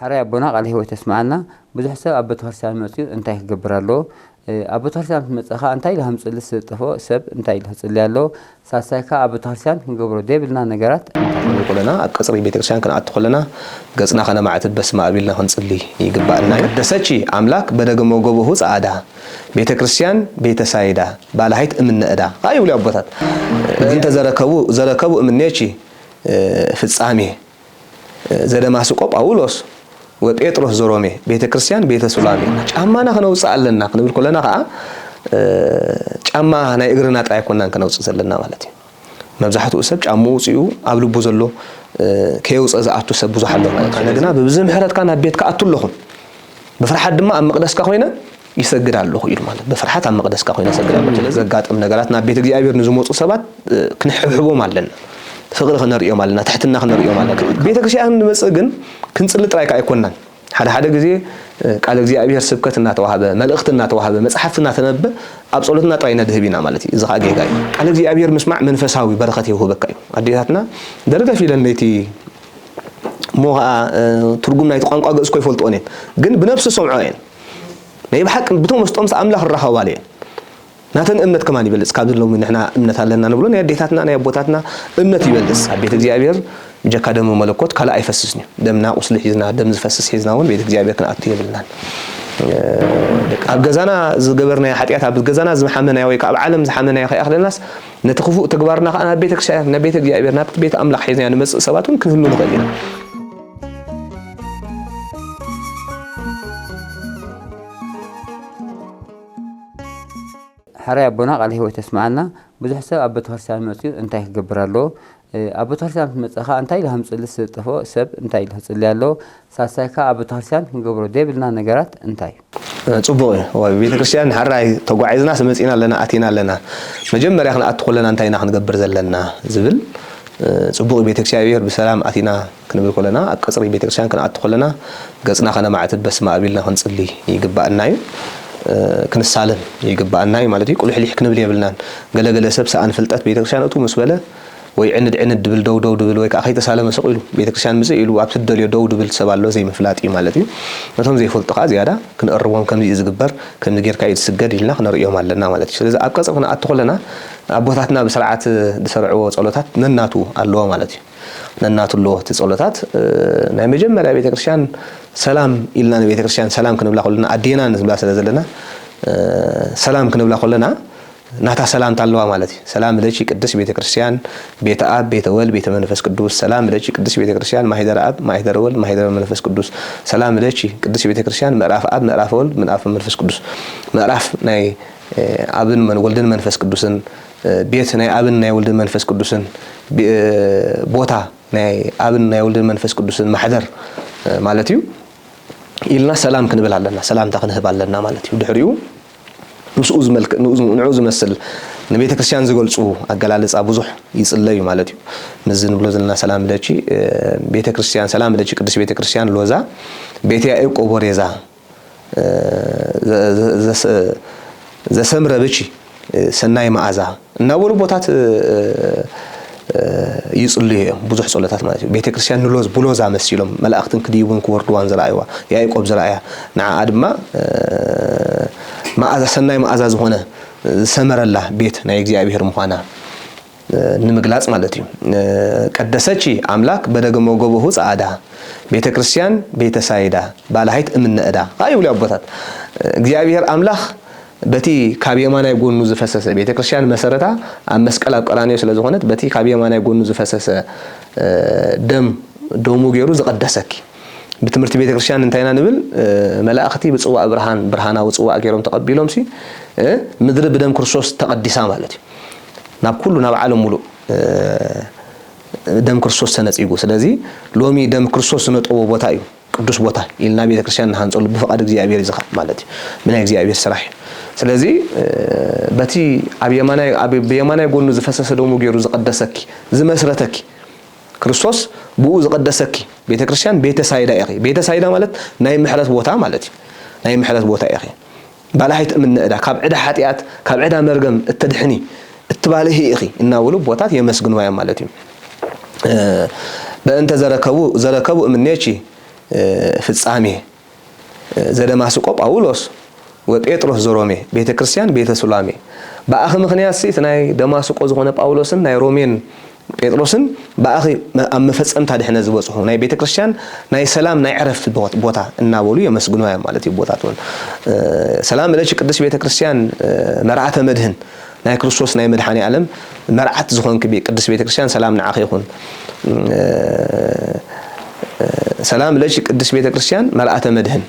ሐራይ ኣቦና ቃለ ህይወት የስመዓልና ብዙሕ ሰብ ኣብ በተክርስትያን መጽዩ እንታይ ክገብር ኣለዎ ኣብ በተክርስትያን ምስ መጸ ከኣ እንታይ ኢሉ ሃምጽሊ ስለ ዝጠፍኦ ሰብ እንታይ ኢሉ ክጽሊ ኣለዎ ሳልሳይ ከኣ ኣብ በተክርስትያን ክንገብሮ ዘይብልና ነገራት እንታይ ኢዩ። ኩለና ኣብ ቀጽሪ ቤተክርስትያን ክንኣቱ ከለና ገጽና ከነማዕትብ በስመኣብ ኢልና ክንጽሊ ይግበኣና ኢዩ። ቅደሰቺ ኣምላክ በደግሞ ጎቦሁ ጸኣዳ ቤተክርስትያን ቤተ ሳይዳ ባላሂት እምነ እዳ ከኣ ይብሉ ኣቦታት እንተ ዘረከቡ ዘረከቡ እምኔቺ ፍጻሜ። ዘደማስቆ ጳውሎስ ወጴጥሮስ ዘሮሜ ቤተ ክርስቲያን ቤተ ሱላሜ ጫማና ክነውፅእ ኣለና ክንብል ኮለና ከዓ ጫማ ናይ እግርና ጥራይ ኮናን ክነውፅእ ዘለና ማለት እዩ መብዛሕትኡ ሰብ ጫምኡ ውፅኡ ኣብ ልቡ ዘሎ ከየውፀ ዝኣቱ ሰብ ብዙሕ ኣሎ ማለት እዩ ግና ብብዚ ምሕረትካ ናብ ቤትካ ኣቱ ኣለኹ ብፍርሓት ድማ ኣብ መቅደስካ ኮይነ ይሰግድ ኣለኹ ኢሉ ማለት ብፍርሓት ኣብ መቕደስካ ኮይነ እሰግድ ኣለኹ። ስለዚ ዘጋጥም ነገራት ናብ ቤት እግዚኣብሔር ንዝመፁ ሰባት ክንሕብሕቦም ኣለና፣ ፍቕሪ ክነርእዮም ኣለና፣ ትሕትና ክነርእዮም ኣለና። ቤተ ክርስቲያን ንመፅእ ግን ክንፅሊ ጥራይ ከዓ ኣይኮናን። ሓደ ሓደ ግዜ ቃል እግዚኣብሔር ስብከት እናተዋህበ፣ መልእኽቲ እናተዋህበ፣ መፅሓፍቲ እናተነበበ ኣብ ፀሎትና ጥራይ ነድህብ ኢና ማለት እዩ። እዚ ከዓ ጌጋ እዩ። ቃል እግዚኣብሔር ምስማዕ መንፈሳዊ በረኸት የውህበካ እዩ። ኣዴታትና ደርገፍ ኢለን ለይቲ እሞ ከዓ ትርጉም ናይቲ ቋንቋ ግእዝ እኮ ይፈልጥኦን እየን፣ ግን ብነብሲ ዝሰምዕኦ እየን። ናይ ብሓቂ ብተመስጦ ምስ ኣምላኽ ይራኸባሉ እየን። ናተን እምነት ከማን ይበልጽ ካብዚ ሎሚ ንሕና እምነት ኣለና ንብሎ ናይ ኣዴታትና ናይ ኣቦታትና እምነት ይበልጽ። ኣብ ቤት እግዚኣብሔር ብጀካ ደመ መለኮት ካልእ ኣይፈስስን እዩ። ደምና ቁስሊ ሒዝና ደም ዝፈስስ ሒዝና እውን ቤት እግዚኣብሔር ክንኣቱ የብልናን። ኣብ ገዛና ዝገበርናዮ ሓጢኣት ኣብ ገዛና ዝሓመናዮ ወይ ከዓ ኣብ ዓለም ዝሓመናዮ ከይኣኽለናስ ነቲ ክፉእ ተግባርና ከዓ ናብ ቤተ ክርስቲያን ናብ ቤተ እግዚኣብሔር ናብቲ ቤት ኣምላኽ ሒዝናዮ ንመጽእ ሰባት እውን ክንህሉ ንኽእል ኢና። ሐራይ ኣቦና ቃለ ህይወት የስምዓልና ብዙሕ ሰብ ኣብ ቤተክርስትያን መፅዩ እንታይ ክገብር ኣለዎ ኣብ ቤተክርስትያን ክትመፅእ ከዓ እንታይ ኢልካ ምፅሊ ስለዝጠፍኦ ሰብ እንታይ ኢሉ ክፅሊ ኣለዎ ሳልሳይ ከዓ ኣብ ቤተክርስትያን ክንገብሮ ዘይብልና ነገራት እንታይ ጽቡቅ እዩ እዋይ ቤተክርስትያን ሐራይ ተጓዒዝናስ መጺና ኣለና ኣቲና ኣለና መጀመርያ ክንኣቱ ኮለና እንታይ ኢና ክንገብር ዘለና ዝብል ጽቡቅ እዩ ቤተክስያብሔር ብሰላም ኣቲና ክንብል ኮለና ኣብ ቀጽሪ ቤተክርስትያን ክንኣቱ ኮለና ገጽና ከነማዕትብ በስመኣብ ኢልና ክንጽሊ ይግባኣና እዩ ክንሳለም ይግባኣና እዩ ማለት እዩ ቁሊሕሊሕ ክንብል የብልናን ገለገለ ሰብ ሰኣን ፍልጠት ቤተክርስትያን እትው ምስ በለ ወይ ዕንድ ዕንድ ድብል ደው ደው ድብል ወይ ከኣ ከይተሳለመ ስቕ ኢሉ ቤተክርስትያን ምጽእ ኢሉ ኣብቲ ድደልዮ ደው ድብል ሰብ ኣሎ ዘይምፍላጥ እዩ ማለት እዩ ነቶም ዘይፈልጡ ከኣ ዝያዳ ክንእርሞም ከምዚ እዩ ዝግበር ከምዚ ጌርካ እዩ ዝስገድ ኢልና ክነርእዮም ኣለና ማለት እዩ ስለዚ ኣብ ቀጽሪ ክንኣቱ ከለና ኣቦታትና ብስርዓት ዝሰርዕዎ ጸሎታት ነናቱ ኣለዎ ማለት እዩ ነናቱ ኣለዎ እቲ ጸሎታት ናይ መጀመርያ ቤተክርስትያን ሰላም ኢልና ንቤተክርስትያን ሰላም ክንብላ ከለና ኣዴና ንብላ ስለ ዘለና ሰላም ክንብላ ከለና ናታ ሰላምታ ኣለዋ ማለት እዩ። ሰላም ለኪ ቅድስት ቤተ ክርስቲያን ቤተ ኣብ ቤተ ወልድ ቤተ መንፈስ ቅዱስ ሰላም ለኪ ቅድስት ቤተ ክርስቲያን ማኅደረ ኣብ ማኅደረ ወልድ ማኅደረ መንፈስ ቅዱስ ሰላም ለኪ ቅድስት ቤተ ክርስቲያን ምዕራፈ ኣብ ምዕራፈ ወልድ ምዕራፈ መንፈስ ቅዱስ ምዕራፍ ናይ ኣብን ወልድን መንፈስ ቅዱስን ቤት ናይ ኣብን ናይ ወልድን መንፈስ ቅዱስን ቦታ ናይ ኣብን ናይ ወልድን መንፈስ ቅዱስን ማሕደር ማለት እዩ ኢልና ሰላም ክንብል ኣለና ሰላምታ ክንህብ ኣለና ማለት እዩ ድሕሪኡ ምስኡ ዝመልክ ንኡ ዝመስል ንቤተክርስትያን ዝገልጹ ኣገላልጻ ብዙሕ ይጽለዩ ማለት እዩ። ምስዚ ንብሎ ዘለና ሰላም ለኪ ቤተክርስትያን ሰላም ለኪ ቅድስት ቤተክርስትያን ሎዛ ቤተ ያዕቆብ ወሬዛ ዘሰምረ ብኪ ሰናይ መዓዛ እናበሉ ቦታት ይጽልዩ እዮም ብዙሕ ጸሎታት ማለት እዩ ቤተ ክርስቲያን ንሎዝ ብሎዛ መሲሎም መላእክትን ክድይቡን ክወርድዋን ዝረኣይዋ ያዕቆብ ዝረኣያ ንዓኣ ድማ መኣዛ ሰናይ መኣዛ ዝኾነ ዝሰመረላ ቤት ናይ እግዚኣብሔር ምዃና ንምግላጽ ማለት እዩ ቀደሰቺ ኣምላክ በደገሞ ገቦሁ ጸኣዳ ቤተ ክርስቲያን ቤተ ሳይዳ ባላሃይት እምነ እዳ ከኣ ይብሉ ኣቦታት እግዚኣብሔር ኣምላክ በቲ ካብ የማናይ ጎኑ ዝፈሰሰ፣ ቤተ ክርስቲያን መሰረታ ኣብ መስቀል ኣብ ቀራንዮ ስለ ዝኾነት በቲ ካብ የማናይ ጎኑ ዝፈሰሰ ደም ደሙ ገይሩ ዝቐደሰኪ። ብትምህርቲ ቤተ ክርስቲያን እንታይ ኢና ንብል? መላእኽቲ ብጽዋእ ብርሃን ብርሃናዊ ጽዋእ ገይሮም ተቐቢሎምሲ ምድሪ ብደም ክርስቶስ ተቐዲሳ ማለት እዩ። ናብ ኩሉ ናብ ዓለም ሙሉእ ደም ክርስቶስ ተነጺጉ። ስለዚ ሎሚ ደም ክርስቶስ ዝነጠቦ ቦታ እዩ። ቅዱስ ቦታ ኢልና ቤተክርስትያን ንሃንጸሉ ብፍቃድ እግዚኣብሔር እዩ ዝካኣል ማለት እዩ ብናይ እግዚኣብሔር ስራሕ እዩ ስለዚ በቲ ኣብ የማናይ ኣብ ብየማናይ ጎኑ ዝፈሰሰ ደሙ ገይሩ ዝቀደሰኪ ዝመስረተኪ ክርስቶስ ብኡ ዝቀደሰኪ ቤተክርስትያን ቤተ ሳይዳ ኢኺ ቤተ ሳይዳ ማለት ናይ ምሕረት ቦታ ማለት እዩ ናይ ምሕረት ቦታ ኢኺ ባልሕ ኣይትእምኒ ዕዳ ካብ ዕዳ ሓጥያት ካብ ዕዳ መርገም እተድሕኒ እትባልሂ ኢኺ እናበሉ ቦታት የመስግንዋ እዮም ማለት እዩ በእንተ ዘረከቡ ዘረከቡ እምኔቺ ፍጻሜ ዘደማስቆ ጳውሎስ ወጴጥሮስ ዘሮሜ ቤተ ክርስቲያን ቤተ ሱላሜ በኣኺ ምክንያት እቲ ናይ ደማስቆ ዝኾነ ጳውሎስን ናይ ሮሜን ጴጥሮስን ብኣኺ ኣብ መፈጸምታ ድሕነት ዝበጽሑ ናይ ቤተ ክርስቲያን ናይ ሰላም ናይ ዕረፍቲ ቦታ እናበሉ የመስግንዋ እዮም ማለት እዩ ቦታት እውን ሰላም እለች ቅድስት ቤተ ክርስቲያን መርዓተ መድህን ናይ ክርስቶስ ናይ መድሓኒ ዓለም መርዓት ዝኾንክ ቅድስት ቤተ ክርስቲያን ሰላም ንዓኺ ይኹን ሰላም እለች ቅድስት ቤተ ክርስቲያን መርዓተ መድህን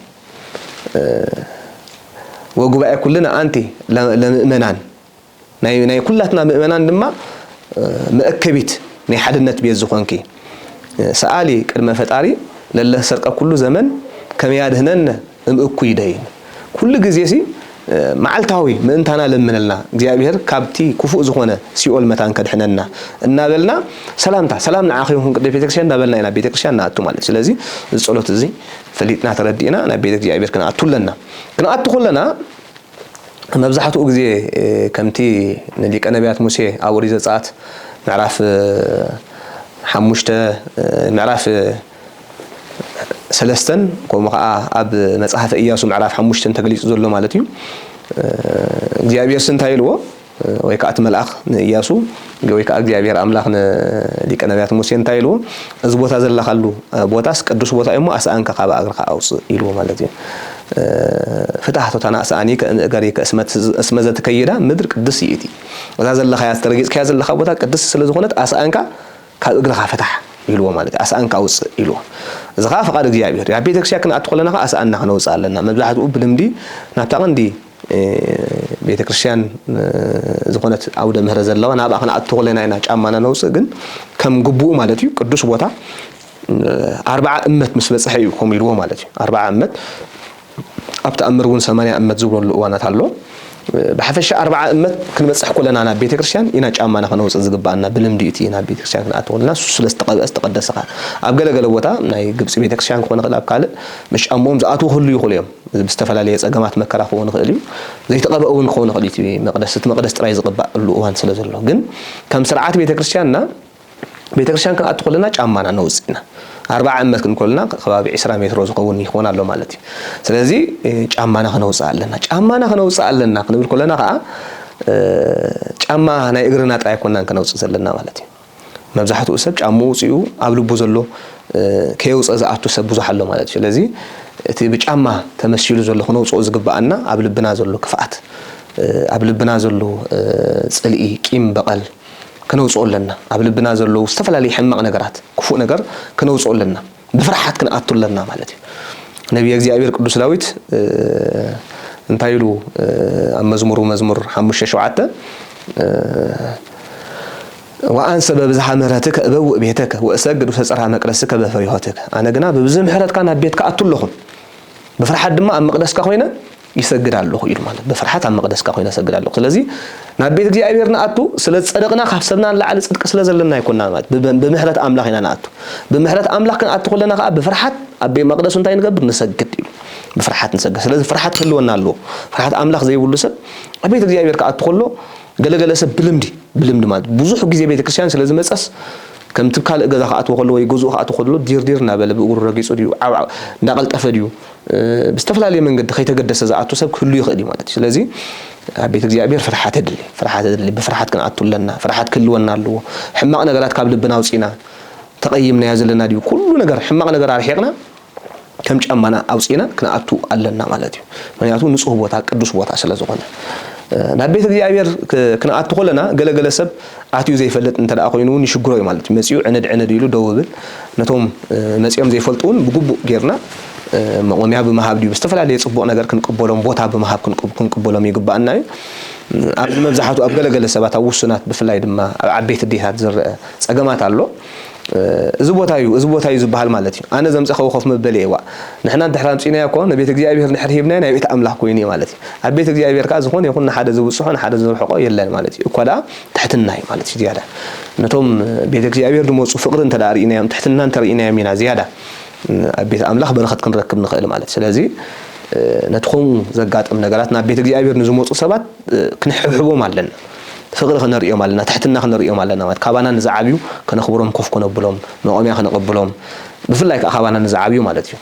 ወጉባኤ ኩልን ኣንቲ ለምእመናን ናይ ናይ ኩላትና ምእመናን ድማ መእከቢት ናይ ሓድነት ቤት ዝኾንኪ ሰኣሊ ቅድመ ፈጣሪ ለለ ሰርቀ ኩሉ ዘመን ከመ ያድኅነነ እም እኩይ ደይን ኩሉ ግዜሲ መዓልታዊ ምእንታና ለምንልና እግዚኣብሔር ካብቲ ክፉእ ዝኾነ ሲኦል መታን ከድኅነና እናበልና ሰላምታ ሰላም ንዓኺ ይኹን ቅድስት ቤተክርስቲያን እናበልና ኢና ቤተክርስቲያን ንኣቱ ማለት ስለዚ እዚ ጸሎት እዚ ፈሊጥና ተረዲእና ናብ ቤተ እግዚኣብሔር ክንኣቱ ኣለና ክንኣቱ ከለና መብዛሕትኡ ግዜ ከምቲ ንሊቀ ነብያት ሙሴ ኣብ ኦሪት ዘጸኣት ምዕራፍ ሓሙሽተ ምዕራፍ ሰለስተን ከምኡ ከኣ ኣብ መጽሓፈ እያሱ ምዕራፍ ሓሙሽተን ተገሊጹ ዘሎ ማለት እዩ እግዚኣብሄርሲ እንታይ ኢልዎ ወይ ከኣ እቲ መልኣኽ ንእያሱ ወይ ከኣ እግዚኣብሄር ኣምላኽ ንሊቀ ነብያት ሙሴ እንታይ ኢልዎ እዚ ቦታ ዘለኻሉ ቦታስ ቅዱስ ቦታ እዩሞ ኣስኣንካ ካብ ኣግርካ ኣውጽእ ኢልዎ ማለት እዩ ፍታህ ቶታና ኣስኣኒ ከእምእገሪ እስመ ዘትከይዳ ምድር ቅድስ ይእቲ እዛ ዘለኻያ ዝተረጊጽካያ ዘለኻ ቦታ ቅድስ ስለ ዝኾነት ኣስኣንካ ካብ እግርኻ ፍታሕ ኢልዎ ማለት ኣስኣንካ ኣውጽእ ኢልዎ እዚ ከዓ ፍቓድ እግዚኣብሔር ኣብ ቤተክርስቲያ ክንኣቱ ከለና ከዓ ኣስኣንና ክነውጽእ ኣለና መብዛሕትኡ ብልምዲ ናብታ ቀንዲ ቤተ ክርስትያን ዝኾነት ኣውደ ምህረት ዘለዋ ናብኣ ክንኣቱ ከለና ኢና ጫማና ነውፅእ፣ ግን ከም ግቡኡ ማለት እዩ ቅዱስ ቦታ ኣርብዓ እመት ምስ በፅሐ እዩ ከምኡ ኢልዎ ማለት እዩ። ኣርብዓ እመት ኣብ ተኣምር እውን ሰማንያ እመት ዝብለሉ እዋናት ኣሎ። ብሓፈሻ ኣርብዓ እመት ክንበፅሕ ከለና ናብ ቤተ ክርስትያን ኢና ጫማና ከነውፅእ ዝግብኣና ብልምዲ እቲ ናብ ቤተ ክርስትያን ክንኣቱ ከለና እሱ ስለ ዝተቐብአ ዝተቐደሰ ከዓ ኣብ ገለገለ ቦታ ናይ ግብፂ ቤተ ክርስትያን ክኾን ይኽእል ኣብ ካልእ ምስ ጫምኦም ዝኣትዉ ክህልዉ ይኽእሉ እዮም። ብዝተፈላለየ ጸገማት መከራ ክኸውን ይኽእል እዩ። ዘይተቐብአ እውን ክኸውን ይኽእል እዩ እቲ መቕደስ። እቲ መቕደስ ጥራይ ዝቕባእሉ እዋን ስለ ዘሎ። ግን ከም ስርዓት ቤተ ክርስቲያንና ቤተ ክርስቲያን ክንኣቱ ከለና ጫማና ነውጽእ ኢና። ኣርብዓ እመት ክንብል ከሎና ከባቢ ዕስራ ሜትሮ ዝኸውን ይኸውን ኣሎ ማለት እዩ። ስለዚ ጫማና ክነውጽእ ኣለና። ጫማና ክነውጽእ ኣለና ክንብል ከሎና ከኣ ጫማ ናይ እግርና ጥራይ ኣይኮናን ክነውጽእ ዘለና ማለት እዩ። መብዛሕትኡ ሰብ ጫምኡ ኣውጺኡ ኣብ ልቡ ዘሎ ከየውጸ ዝኣቱ ሰብ ብዙሕ ኣሎ ማለት እዩ። ስለዚ እቲ ብጫማ ተመሲሉ ዘሎ ክነውጽኦ ዝግብኣና ኣብ ልብና ዘሎ ክፍኣት ኣብ ልብና ዘሎ ጽልኢ ቂም በቐል ክነውጽኦ ኣለና። ኣብ ልብና ዘለዉ ዝተፈላለዩ ሕማቕ ነገራት ክፉእ ነገር ክነውጽኦ ኣለና። ብፍርሓት ክንኣቱ ኣለና ማለት እዩ። ነብየ እግዚኣብሔር ቅዱስ ዳዊት እንታይ ኢሉ ኣብ መዝሙሩ መዝሙር ሓሙሽተ ሸውዓተ ወኣንሰ በብዝሓ ምሕረትከ እበውእ ቤተከ ወእሰግድ ውስተ ጽርሐ መቅደስከ በፈሪሆትከ ኣነ ግና ብብዙሕ ምሕረትካ ናብ ቤትካ ኣቱ ኣለኹ ብፍርሓት ድማ ኣብ መቅደስካ ኮይነ ይሰግድ ኣለኹ ኢሉ ማለት ብፍርሓት ኣብ መቕደስካ ኮይነ እሰግድ ኣለኹ። ስለዚ ናብ ቤት እግዚኣብሔር ንኣቱ ስለ ዝጸደቕና ካብ ሰብና ንላዕሊ ጽድቂ ስለ ዘለና ኣይኮንና ማለት ብምሕረት ኣምላኽ ኢና ንኣቱ። ብምሕረት ኣምላኽ ክንኣቱ ከለና ከኣ ብፍርሓት ኣብ ቤት መቕደሱ እንታይ ንገብር ንሰግድ ኢሉ ብፍርሓት ንሰግድ። ስለዚ ፍርሓት ክህልወና ኣለዎ። ፍርሓት ኣምላኽ ዘይብሉ ሰብ ኣብ ቤት እግዚኣብሔር ክኣቱ ከሎ ገለገለ ሰብ ብልምዲ ብልምዲ ማለት ብዙሕ ግዜ ቤተክርስትያን ስለ ዝመጸስ ከምቲ ካልእ ገዛ ክኣትዎ ከሎ ወይ ገዝኡ ክኣትዎ ከሎ ዲርዲር እናበለ ብእግሩ ረጊጹ ድዩ ዓብዓ እንዳቐልጠፈ ድዩ ብዝተፈላለየ መንገዲ ከይተገደሰ ዝኣቱ ሰብ ክህሉ ይኽእል እዩ ማለት እዩ። ስለዚ ኣብ ቤት እግዚኣብሔር ፍርሓት የድሊ ፍርሓት የድሊ ብፍርሓት ክንኣቱ ኣለና ፍርሓት ክህልወና ኣለዎ ሕማቕ ነገራት ካብ ልብና ኣውጺና ተቐይምናዮ ዘለና ድዩ ኩሉ ነገር ሕማቕ ነገር ኣርሒቕና ከም ጫማና ኣውጺና ክንኣቱ ኣለና ማለት እዩ። ምክንያቱ ንጹህ ቦታ ቅዱስ ቦታ ስለ ዝኾነ ናብ ቤት እግዚኣብሔር ክንኣቱ ከለና ገለገለ ሰብ ኣትዩ ዘይፈልጥ እንተ ኮይኑ እውን ይሽግሮ እዩ ማለት እዩ። መጺኡ ዕንድ ዕንድ ኢሉ ደው ይብል። ነቶም መጺኦም ዘይፈልጡ እውን ብግቡእ ጌርና መቖሚያ ብምሃብ ድዩ ብዝተፈላለየ ጽቡቕ ነገር ክንቅበሎም ቦታ ብምሃብ ክንቅበሎም ይግብኣና እዩ። ኣብዚ መብዛሕቱ ኣብ ገለ ገለ ሰባት ኣብ ውሱናት ብፍላይ ድማ ኣብ ዓበይቲ ኣዴታት ዝረኣ ጸገማት ኣሎ። እዚ ቦታ እዩ፣ እዚ ቦታ እዩ ዝበሃል ማለት እዩ። ኣነ ዘምጸኸዎ ኮፍ መበሊ እየ። ዋእ! ንሕና እንድሕር ኣምጺእናዮ እኮ ንቤት እግዚኣብሄር እንድሕር ሂብናዮ ናይ ቤት ኣምላኽ ኮይኑ እዩ ማለት እዩ። ኣብ ቤት እግዚኣብሄር ከኣ ዝኾነ ይኹን ንሓደ ዝብጽሖ ንሓደ ዘርሕቆ የለን ማለት እዩ። እኳ ደኣ ትሕትና እዩ ማለት እዩ ዝያዳ ነቶም ቤት እግዚኣብሄር ዝመጹ ፍቕሪ እንተ ደኣ ርኢናዮም ትሕትና እንተ ርኢናዮም ኢና ዝያዳ ኣብ ቤት ኣምላኽ በረኸት ክንረክብ ንኽእል ማለት እዩ። ስለዚ ነቲ ከምኡ ዘጋጥም ነገራት ናብ ቤት እግዚኣብሄር ንዝመጹ ሰባት ክንሕብሕቦም ኣለና። ፍቕሪ ክነርእዮም ኣለና፣ ትሕትና ክነርእዮም ኣለና ማለት ካባና ንዝዓብዩ ከነኽብሮም ኮፍ ክነብሎም መቖምያ ክነቐብሎም ብፍላይ ከኣ ካባና ንዝዓብዩ ማለት እዩ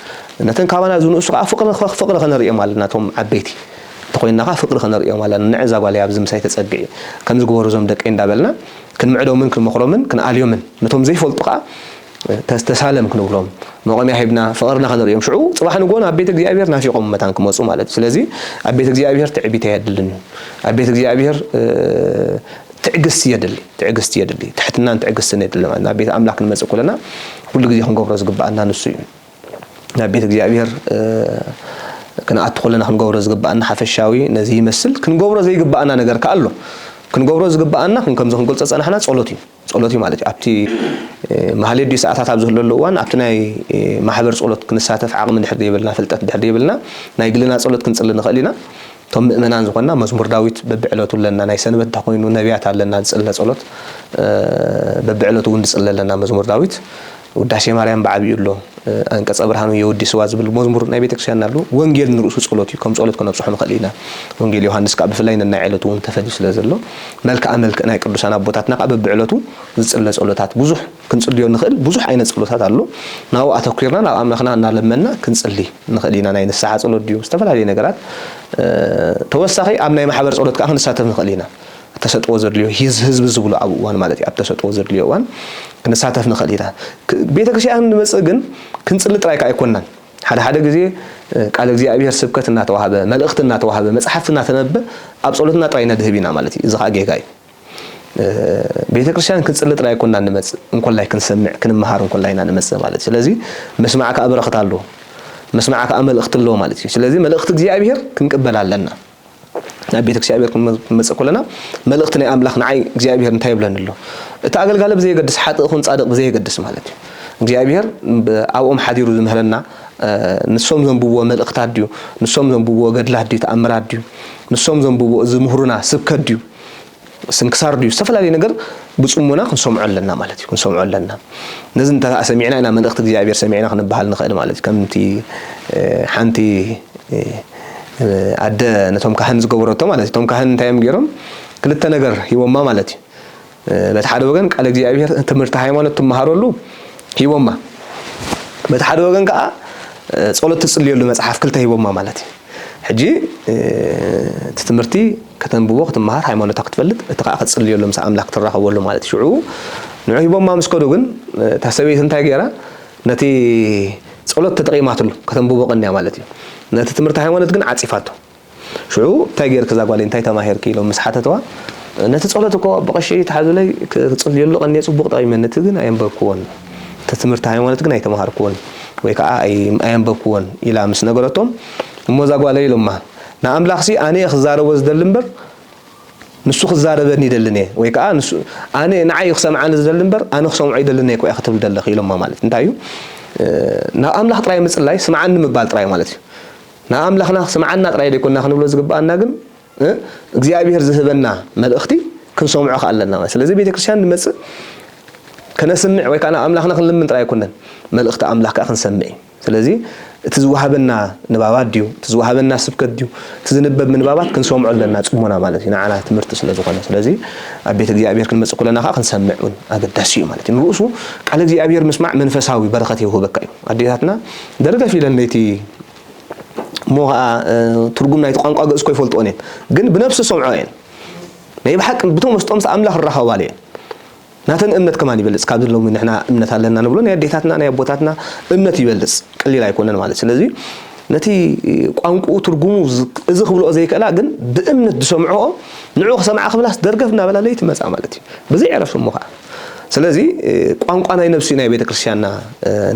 ነተን ካባና ዝንእሱ ከኣ ፍቕሪ ፍቕሪ ክነርእዮም ኣለና እቶም ዓበይቲ እንተኾይንና ከኣ ፍቕሪ ክነርእዮም ኣለና ንዕ እዛ ጓለይ ኣብዚ ምሳይ ተጸግዒ ከምዚ ግበሩ እዞም ደቀይ እንዳበልና ክንምዕዶምን ክንመኽሮምን ክንኣልዮምን ነቶም ዘይፈልጡ ከኣ ተሳለም ክንብሎም መቖሚያ ሂብና ፍቕርና ከነርእዮም ሽዑ ጽባሕ ንግሆ ናብ ቤት እግዚኣብሔር ናፊቖም መታን ክመጹ ማለት እዩ። ስለዚ ኣብ ቤት እግዚኣብሔር ትዕቢት ኣየድልን እዩ። ኣብ ቤት እግዚኣብሔር ትዕግስቲ የድሊ ትዕግስቲ የድሊ ትሕትናን ትዕግስትን የድሊ ማለት ናብ ቤት ኣምላክ ክንመጽእ ኩለና ኩሉ ግዜ ክንገብሮ ዝግባኣና ንሱ እዩ። ናብ ቤት እግዚኣብሔር ክንኣቱ ኩለና ክንገብሮ ዝግባኣና ሓፈሻዊ ነዚ ይመስል። ክንገብሮ ዘይግባኣና ነገር ከኣ ኣሎ። ክንገብሮ ዝግባኣና ከምዚ ክንገልጾ ዝጸናሕና ጸሎት እዩ። ጸሎት እዩ ማለት እዩ። ኣብቲ ማህሌት ድዩ ሰዓታት ኣብ ዝህለሉ እዋን ኣብቲ ናይ ማሕበር ጸሎት ክንሳተፍ ዓቕሚ ድሕር ደይብልና ፍልጠት ድሕር ደይብልና ናይ ግልና ጸሎት ክንጽሊ ንኽእል ኢና። እቶም ምእመናን ዝኾንና መዝሙር ዳዊት በብዕለቱ ኣለና፣ ናይ ሰንበት እንተኾይኑ ነብያት ኣለና ዝጽለ ጸሎት በብዕለቱ እውን ንጽሊ ኣለና መዝሙር ዳዊት። ውዳሴ ማርያም ብዓቢኡ ኣሎ፣ ኣንቀጸ ብርሃኑ የወዲስዋ ዝብል መዝሙር ናይ ቤተክርስቲያንና ኣሎ፣ ወንጌል ንርእሱ ጸሎት እዩ፣ ከም ጸሎት ከነብጽሖ ንኽእል ኢና፣ ወንጌል ዮሃንስ ከኣ ብፍላይ ነናይ ዕለቱ እውን ተፈልዩ ስለ ዘሎ፣ መልክኣ መልክእ ናይ ቅዱሳን ኣቦታትና ከኣ በብዕለቱ ዝጽለ ጸሎታት ብዙሕ ክንጽልዮ እንኽእል ብዙሕ ዓይነት ጸሎታት ኣሎ፣ ናብኡ ኣተኲርና ናብ ኣምላኽና እናለመንና ክንጽሊ ንኽእል ኢና፣ ናይ ንስሓ ጸሎት ድዩ ዝተፈላለዩ ነገራት ተወሳኺ ኣብ ናይ ማሕበር ጸሎት ከኣ ክንሳተፍ ንኽእል ኢና። ተሰጥዎ ዘድልዮ ህዝቢ ዝብሉ ኣብ እዋን ማለት እዩ ኣብ ተሰጥዎ ዘድልዮ እዋን ክንሳተፍ ንኽእል ኢና። ቤተ ክርስቲያን ንመጽእ ግን ክንጽሊ ጥራይ ከ ኣይኮናን ሓደ ሓደ ግዜ ቃለ እግዚኣብሔር ስብከት እናተዋህበ መልእኽቲ እናተዋህበ መጽሓፍቲ እናተነበበ ኣብ ጸሎትና ጥራይ ነድህብ ኢና ማለት እዩ እዚ ከኣ ጌጋ እዩ። ቤተ ክርስቲያን ክንጽሊ ጥራይ ኣይኮናን ንመጽእ እንኮላይ ክንሰምዕ ክንመሃር እንኮላይ ኢና ንመጽእ ማለት እዩ። ስለዚ ምስማዕ ከኣ በረኽት ኣለዎ ምስማዕ ከኣ መልእኽቲ ኣለዎ ማለት እዩ። ስለዚ መልእኽቲ እግዚኣብሔር ክንቅበል ኣለና። ናብ ቤት እግዚኣብሔር ክንመጽእ ከሎና መልእኽቲ ናይ ኣምላኽ ንዓይ እግዚኣብሔር እንታይ ይብለኒ ኣሎ እቲ ኣገልጋሊ ብዘየገድስ ሓጥእ ኹን ጻድቕ ብዘየገድስ ማለት እዩ እግዚኣብሔር ኣብኦም ሓዲሩ ዝምህረና ንሶም ዘንብብዎ መልእኽታት ድዩ ንሶም ዘንብብዎ ገድላት ድዩ ተኣምራት ድዩ ንሶም ዘንብብዎ ዝምህሩና ስብከት ድዩ ስንክሳር ድዩ ዝተፈላለየ ነገር ብጽሞና ክንሰምዖ ኣለና ማለት እዩ ክንሰምዖ ኣለና ነዚ እንተ ሰሚዕና ኢና መልእኽቲ እግዚኣብሔር ሰሚዕና ክንበሃል ንኽእል ማለት እዩ ከምቲ ሓንቲ ኣደ ነቶም ካህን ዝገበረቶ ማለት እዩ እቶም ካህን እንታይ እዮም ገይሮም ክልተ ነገር ሂቦማ ማለት እዩ በቲ ሓደ ወገን ቃል እግዚኣብሔር ትምህርቲ ሃይማኖት ትመሃረሉ ሂቦማ በቲ ሓደ ወገን ከዓ ጸሎት ትጽልየሉ መጽሓፍ ክልተ ሂቦማ ማለት እዩ ሕጂ እቲ ትምህርቲ ከተንብቦ ክትመሃር ሃይማኖታ ክትፈልጥ እቲ ከኣ ክትጽልየሉ ምስ ኣምላኽ ትራኸበሉ ማለት ሽዑ ንዑ ሂቦማ ምስ ከዱ ግን እታ ሰበይቲ እንታይ ገይራ ነቲ ጸሎት ተጠቂማትሉ ከተንብቦ ቀንያ ማለት እዩ ነቲ ትምህርቲ ሃይማኖት ግን ዓጺፋቶ ሽዑ እንታይ ገይርኪ እዛ ጓለይ እንታይ ተማሂርኪ ኢሎም ምስ ሓተትዋ ነቲ ጸሎት እኮ ብቐሺ ተሓዙለይ ክጽልየሉ ቀንየ ጽቡቕ ጠቂመኒ እቲ ግን ኣየንበብክዎን እቲ ትምህርቲ ሃይማኖት ግን ኣይተማሃርኩዎን ወይ ከኣ ኣየንበብኩዎን ኢላ ምስ ነገረቶም እሞ እዛ ጓለይ ኢሎማ ንኣምላኽሲ ኣነ'የ ክዛረቦ ዝደሊ እምበር ንሱ ክዛረበኒ ይደልን'የ ወይ ከኣ ንሱ ኣነ ንዓይ'ዩ ክሰምዓኒ ዝደሊ እምበር ኣነ ክሰምዖ ኣይደልን'የ እኮ'ያ ክትብል ዘለኺ ኢሎማ ማለት እንታይ እዩ ናብ ኣምላኽ ጥራይ ምጽላይ ስምዓኒ ምባል ጥራይ ማለት እዩ ናብ ኣምላኽና ስምዓና ጥራይ ዘይኮንና ክንብሎ ዝግብኣና ግን እግዚኣብሔር ዝህበና መልእኽቲ ክንሰምዖ ከኣ ኣለና ማለት ስለዚ ቤተክርስትያን ንመጽእ ከነስምዕ ወይ ከኣ ናብ ኣምላኽና ክንልምን ጥራይ ኣይኮነን መልእኽቲ ኣምላኽ ከኣ ክንሰምዕ እዩ ስለዚ እቲ ዝወሃበና ንባባት ድዩ እቲ ዝወሃበና ስብከት ድዩ እቲ ዝንበብ ምንባባት ክንሰምዖ ኣለና ጽሞና ማለት እዩ ንዓና ትምህርቲ ስለ ዝኾነ ስለዚ ኣብ ቤት እግዚኣብሔር ክንመጽእ ኩለና ከዓ ክንሰምዕ እውን ኣገዳሲ እዩ ማለት እዩ ንርእሱ ቃል እግዚኣብሔር ምስማዕ መንፈሳዊ በረኸት የውህበካ እዩ ኣዴታትና ደርገፍ ኢለን ለይቲ እሞ ኸኣ ትርጉም ናይቲ ቋንቋ ግእዝ እኮ ይፈልጥኦን እየን ግን ብነብሲ ዝሰምዖ እየን ናይ ብሓቂ ብተመስጦ ምስ ኣምላኽ ዝራኸባሉ እየን ናተን እምነት ከማን ይበልጽ ካብዚ ሎሚ ንሕና እምነት ኣለና ንብሎ ናይ ኣዴታትና ናይ ኣቦታትና እምነት ይበልጽ ቀሊል ኣይኮነን ማለት ስለዚ ነቲ ቋንቁኡ ትርጉሙ እዚ ክብልኦ ዘይክእላ ግን ብእምነት ዝሰምዕኦ ንዑ ክሰምዓ ክብላስ ደርገፍ እናበላ ለይቲ መጻ ማለት እዩ ብዘይ ዕረፍቲ እሞ ከዓ ስለዚ ቋንቋ ናይ ነብሲ ናይ ቤተ ክርስቲያንና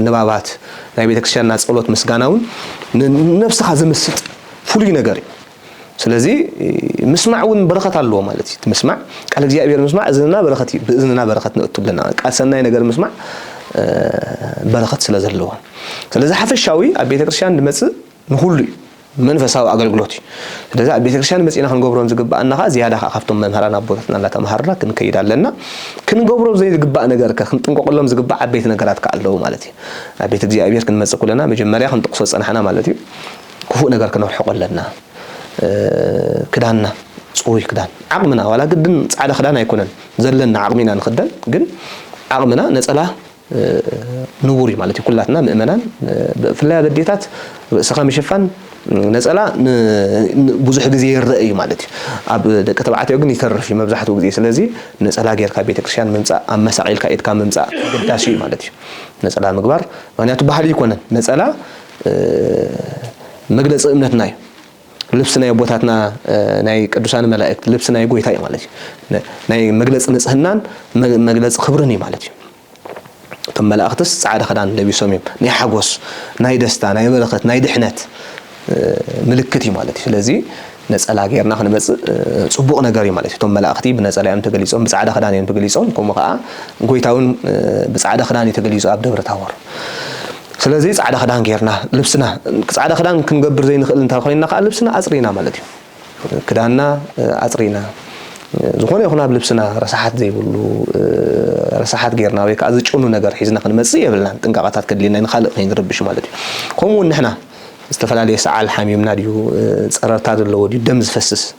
ንባባት ናይ ቤተ ክርስቲያንና ጸሎት ምስጋና እውን ንነብስኻ ዝምስጥ ፍሉይ ነገር እዩ ስለዚ ምስማዕ እውን በረኸት ኣለዎ ማለት እዩ ምስማዕ ቃል እግዚኣብሔር ምስማዕ እዝንና በረኸት እዩ ብእዝንና በረኸት ንእቱ ብለና ቃል ሰናይ ነገር ምስማዕ በረኸት ስለ ዘለዎ ስለዚ ሓፈሻዊ ኣብ ቤተ ክርስቲያን ንመፅእ ንኩሉ እዩ መንፈሳዊ ኣገልግሎት እዩ። ስለዚ ኣብ ቤተክርስትያን መጺእና ክንገብሮን ዝግብኣና ከኣ ዝያዳ ከኣ ካብቶም መምህራን ኣቦታትና እናተማሃርና ክንከይድ ኣለና። ክንገብሮ ዘይግባእ ነገር ከ ክንጥንቀቐሎም ዝግባእ ዓበይቲ ነገራት ከኣ ኣለዉ ማለት እዩ። ናብ ቤት እግዚኣብሔር ክንመጽእ ኩለና መጀመርያ ክንጥቕሶ ዝጸናሕና ማለት እዩ ክፉእ ነገር ክነርሕቆ ኣለና። ክዳንና ጽሩይ ክዳን ዓቕምና ዋላ ግድን ጻዕዳ ክዳን ኣይኮነን ዘለና ዓቕሚ ኢና ንኽደን ግን ዓቕምና ነጸላ ንቡር እዩ ማለት እዩ ኩላትና ምእመናን ብፍላይ ኣብ ኣዴታት ርእስኻ ምሽፋን ነፀላ ብዙሕ ግዜ ይረአ እዩ ማለት እዩ ኣብ ደቂ ተባዕትዮ ግን ይተርፍ እዩ መብዛሕትኡ ግዜ ስለዚ ነፀላ ጌርካ ቤተክርስትያን ምምፃእ ኣብ መሳዕ ኢልካ ኢድካ ምምፃእ ኣገዳሲ እዩ ማለት እዩ ነፀላ ምግባር ምክንያቱ ባህሊ ኣይኮነን ነፀላ መግለፂ እምነትና እዩ ልብሲ ናይ ኣቦታትና ናይ ቅዱሳን መላእክት ልብሲ ናይ ጎይታ እዩ ማለት እዩ ናይ መግለፂ ንፅህናን መግለፂ ክብርን እዩ ማለት እዩ እቶም መላእክትስ ፃዕዳ ክዳን ለቢሶም እዮም ናይ ሓጎስ ናይ ደስታ ናይ በረከት ናይ ድሕነት ምልክት እዩ ማለት እዩ ስለዚ ነፀላ ጌርና ክንመፅእ ፅቡቕ ነገር እዩ ማለት እዩ እቶም መላእኽቲ ብነፀላ እዮም ተገሊፆም ብፃዕዳ ክዳን እዮም ተገሊፆም ከምኡ ከዓ ጎይታ እውን ብፃዕዳ ክዳን እዩ ተገሊፁ ኣብ ደብረ ታቦር ስለዚ ጻዕዳ ክዳን ጌርና ልብስና ጻዕዳ ክዳን ክንገብር ዘይንኽእል እንተ ኮይንና ከኣ ልብስና ኣጽሪና ማለት እዩ። ክዳንና ኣጽሪና ዝኾነ ይኹን ኣብ ልብስና ረሳሓት ዘይብሉ ረሳሓት ጌርና ወይ ከኣ ዝጭኑ ነገር ሒዝና ክንመጽእ የብልናን። ጥንቃቐታት ከድልየና እዩ ንኻልእ ከይንርብሽ ማለት እዩ። ከምኡ ውን ንሕና ዝተፈላለየ ሰዓል ሓሚምና ድዩ ጸረርታ ዘለዎ ድዩ ደም ዝፈስስ?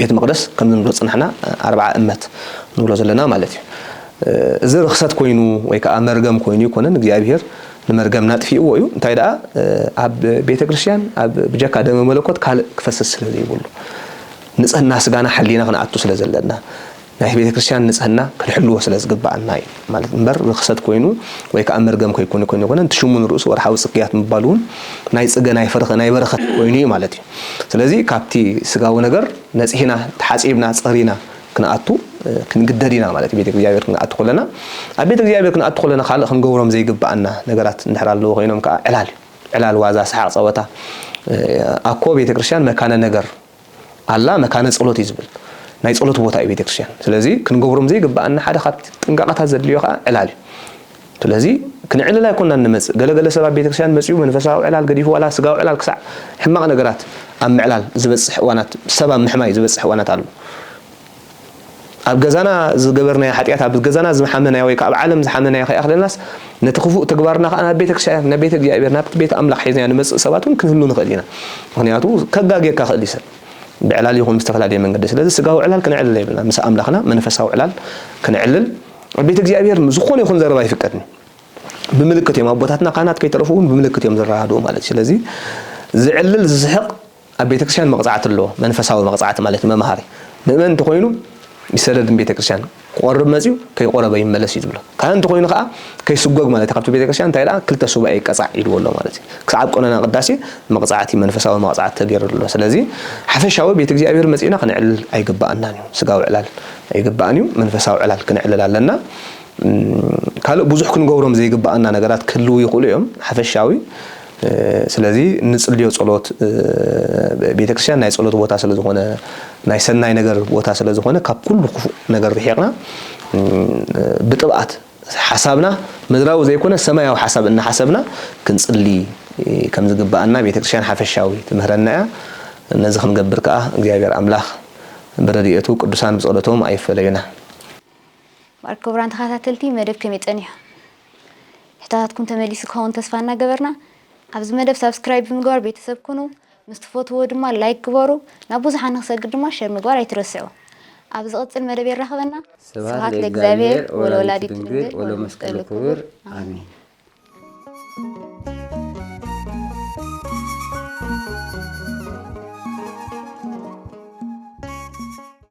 ቤት መቅደስ ከም እንብሎ ዝጸናሕና ኣርብዓ እመት ንብሎ ዘለና ማለት እዩ እዚ ርኽሰት ኮይኑ ወይ ከኣ መርገም ኮይኑ ኣይኮነን እግዚኣብሄር ንመርገምና ኣጥፊእዎ እዩ እንታይ ደኣ ኣብ ቤተ ክርስቲያን ኣብ ብጀካ ደመ መለኮት ካልእ ክፈስስ ስለ ዘይብሉ ንጽህና ስጋና ሓሊና ክንኣቱ ስለ ዘለና ናይ ቤተ ክርስቲያን ንጽህና ክንሕልዎ ስለ ዝግብኣና እዩ ማለት እምበር ርኽሰት ኮይኑ ወይ ከኣ መርገም ከይኮነ ኮይኑ ኣይኮነን። እቲ ሽሙ ንርእሱ ወርሓዊ ጽግያት ምባሉ እውን ናይ ጽገ ናይ ፍርኸ ናይ በረኸት ኮይኑ እዩ ማለት እዩ። ስለዚ ካብቲ ስጋዊ ነገር ነጺህና ተሓጺብና ጸሪና ክንኣቱ ክንግደድ ኢና ማለት እዩ። ቤተ እግዚኣብሔር ክንኣቱ ከለና ኣብ ቤተ እግዚኣብሔር ክንኣቱ ከለና ካልእ ክንገብሮም ዘይግብኣና ነገራት እንድሕር ኣለዉ ኮይኖም ከኣ ዕላል ዕላል ዋዛ ሰሓቕ ጸወታ ኣኮ ቤተ ክርስቲያን መካነ ነገር ኣላ መካነ ጸሎት እዩ ዝብል ናይ ጸሎት ቦታ እዩ ቤተክርስትያን ስለዚ ክንገብሮም ዘይግብኣና ሓደ ካብቲ ጥንቃቐታት ዘድልዮ ከኣ ዕላል እዩ ስለዚ ክንዕልል ኣይኮናን ንመጽእ ገለ ገለ ሰብ ኣብ ቤተክርስትያን መጽኡ መንፈሳዊ ዕላል ገዲፉ ዋላ ስጋዊ ዕላል ክሳዕ ሕማቕ ነገራት ኣብ ምዕላል ዝበጽሕ እዋናት ሰብ ኣብ ምሕማይ ዝበጽሕ እዋናት ኣሎ ኣብ ገዛና ዝገበርናዮ ሓጢኣት ኣብ ገዛና ዝሓመናዮ ወይ ከኣ ኣብ ዓለም ዝሓመናዮ ከይኣኽለናስ ነቲ ክፉእ ተግባርና ከኣ ናብ ቤተ ክርስቲያን ናብ ቤተ እግዚኣብሔር ናብቲ ቤት ኣምላኽ ሒዝናዮ ንመጽእ ሰባት እውን ክንህሉ ንኽእል ኢና ምክንያቱ ከጋጌካ ክእል እዩ ሰብ ብዕላል ይኹን ብዝተፈላለየ መንገዲ ስለዚ ስጋዊ ዕላል ክነዕልል የብልና ምስ ኣምላኽና መንፈሳዊ ዕላል ክነዕልል ኣብ ቤት እግዚኣብሔር ዝኾነ ይኹን ዘረባ ኣይፍቀድን ብምልክት እዮም ኣቦታትና ካህናት ከይተረፉ እውን ብምልክት እዮም ዝረዳድኡ ማለት እዩ ስለዚ ዝዕልል ዝስሕቕ ኣብ ቤተክርስቲያን መቕጻዕቲ ኣሎ፣ መንፈሳዊ መቕጻዕቲ ማለት እዩ፣ መምሃሪ ምእመን እንተኾይኑ ይሰደድ ንቤተክርስቲያን፣ ክቖርብ መጺኡ ከይቖረበ ይመለስ እዩ ዝብሎ፣ ካህን እንተኾይኑ ከኣ ከይስጎግ ማለት እዩ፣ ካብቲ ቤተክርስቲያን እንታይ ደኣ ክልተ ሱባኤ ይቀጻዕ ኢልዎ ኣሎ ማለት እዩ፣ ክሳዕ ኣብ ቀኖና ቅዳሴ መቕጻዕቲ መንፈሳዊ መቕጻዕቲ ተገይርሉ ኣሎ፣ ስለዚ ሓፈሻዊ ቤት እግዚኣብሔር መጺእና ክነዕልል ኣይግበኣናን እዩ፣ ስጋዊ ዕላል ኣይግባእን እዩ፣ መንፈሳዊ ዕላል ክነዕልል ኣለና፣ ካልእ ብዙሕ ክንገብሮም ዘይግበኣና ነገራት ክህልዉ ይኽእሉ እዮም፣ ሓፈሻዊ። ስለዚ እንጽልዮ ጸሎት ቤተክርስትያን ናይ ጸሎት ቦታ ስለ ዝኾነ ናይ ሰናይ ነገር ቦታ ስለ ዝኾነ ካብ ኩሉ ክፉእ ነገር ርሒቕና ብጥብኣት ሓሳብና ምድራዊ ዘይኮነ ሰማያዊ ሓሳብ እናሓሰብና ክንጽሊ ከም ዝግብኣና ቤተክርስትያን ሓፈሻዊ ትምህረና እያ። ነዚ ክንገብር ከኣ እግዚኣብሔር ኣምላኽ ብረድኤቱ ቅዱሳን ብጸሎቶም ኣይፈለዩና። ክቡራን ተኸታተልቲ መደብ ከመይ ጸኒሑ? ሕቶታትኩም ተመሊሱ ክኸውን ተስፋ እናገበርና ኣብዚ መደብ ሳብስክራይብ ብምግባር ቤተሰብ ኩኑ፣ ምስ ትፈትዎ ድማ ላይክ ግበሩ፣ ናብ ብዙሓን ንክሰግር ድማ ሸር ምግባር ኣይትረስዑ። ኣብ ዝቕጽል መደብ የራኽበና። ስብሃት ለእግዚኣብሔር ወለወላዲቱ ድንግል ወለመስቀሉ ክቡር ኣሜን።